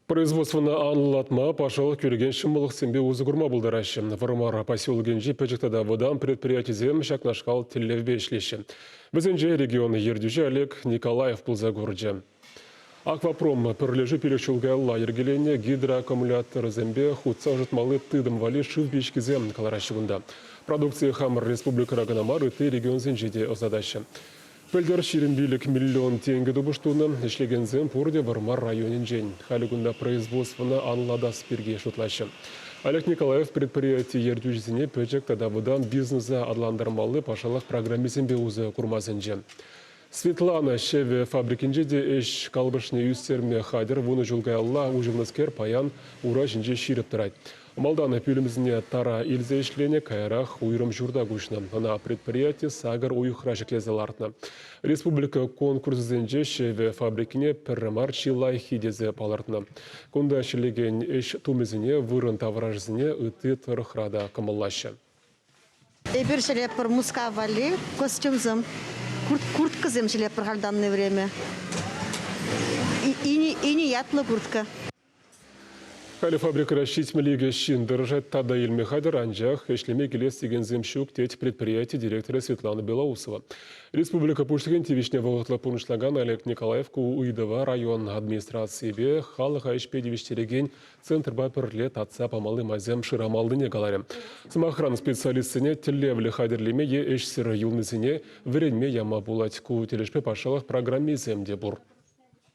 Производствӑна анлӑлатма, патшалӑх кӳрекен ҫӑмӑллӑхсемпе усӑ курма пултараҫҫӗ. Вӑрмар поселокӗнчи пӗчӗк тата вӑтам предприятисем ҫакнашкал тӗллевпе ӗҫлеҫҫӗ. Вӗсенче регион ертӳҫи Олег Николаев пулса курчӗ. Аквапром пӗрлешӳ пилӗк ҫул каялла йӗркеленӗ гидроаккумуляторӑсемпе хутса ӑшӑтмалли тытӑм валли шыв пичкисем кӑлараҫҫӗ кунта. Продукцие хамӑр республикӑра кӑна мар, ытти регионсенче те ӑсатаҫҫӗ. Пӗлтӗр ҫирӗм пилӗк миллион тенкӗ тупӑш тунӑ. Ӗҫлекенсем пурте Вӑрмар районӗнчен. Халӗ кунта производствӑна анлӑлатас пирки шутлаҫҫӗ. Олег Николаев предприяти ертӳҫисене пӗчӗк тата вӑтам бизнеса аталантармалли патшалӑх программисемпе усӑ курма сӗнчӗ. Светлана ҫӗвӗ фабрикинче те ӗҫ калӑпӑшне ӳстерме хатӗр. Вунӑ ҫул каялла уҫӑлнӑскер паян ура ҫинче ҫирӗп тӑрать. Малтан пӳлӗмсене тара илсе ӗҫленӗ, каярах уйрӑм ҫурта куҫнӑ. Ӑна предприяти сакӑр уйӑхра ҫӗклесе лартнӑ. Республика конкурсӗсенче ҫӗвӗ фабрикине пӗр мар чи лайӑххи тесе палӑртнӑ. Кунта ӗҫлекен ӗҫ тумӗсене вырӑн таврашӗсене ытти тӑрӑхра та кӑмӑллаҫҫӗ. Эпир ҫӗлетпӗр Мускав валли костюмсем, курткӑсем ҫӗлетпӗр хальтанни время. Ини ятлӑ куртка. Халӗ фабрикӑра ҫитмӗл икӗ ҫын тӑрӑшать тата илме хатӗр, анчах ӗҫлеме килес текенсем ҫук, тет предприяти директорӗ Светлана Белоусова. Республика Пуҫлӑхӗн тивӗҫне вӑхӑтлӑ пурнӑҫлакан Олег Николаев ку ыйтӑва район администрацийӗпе халӑха ӗҫпе тивӗҫтерекен центрпа пӗрле татса памалли майсем шырамаллине каларӗ. Сӑмахран, специалистсене тӗллевлӗ хатӗрлеме е ӗҫсӗр юлнисене вӗренме яма пулать. Ку тӗлӗшпе патшалӑх программисем те пур.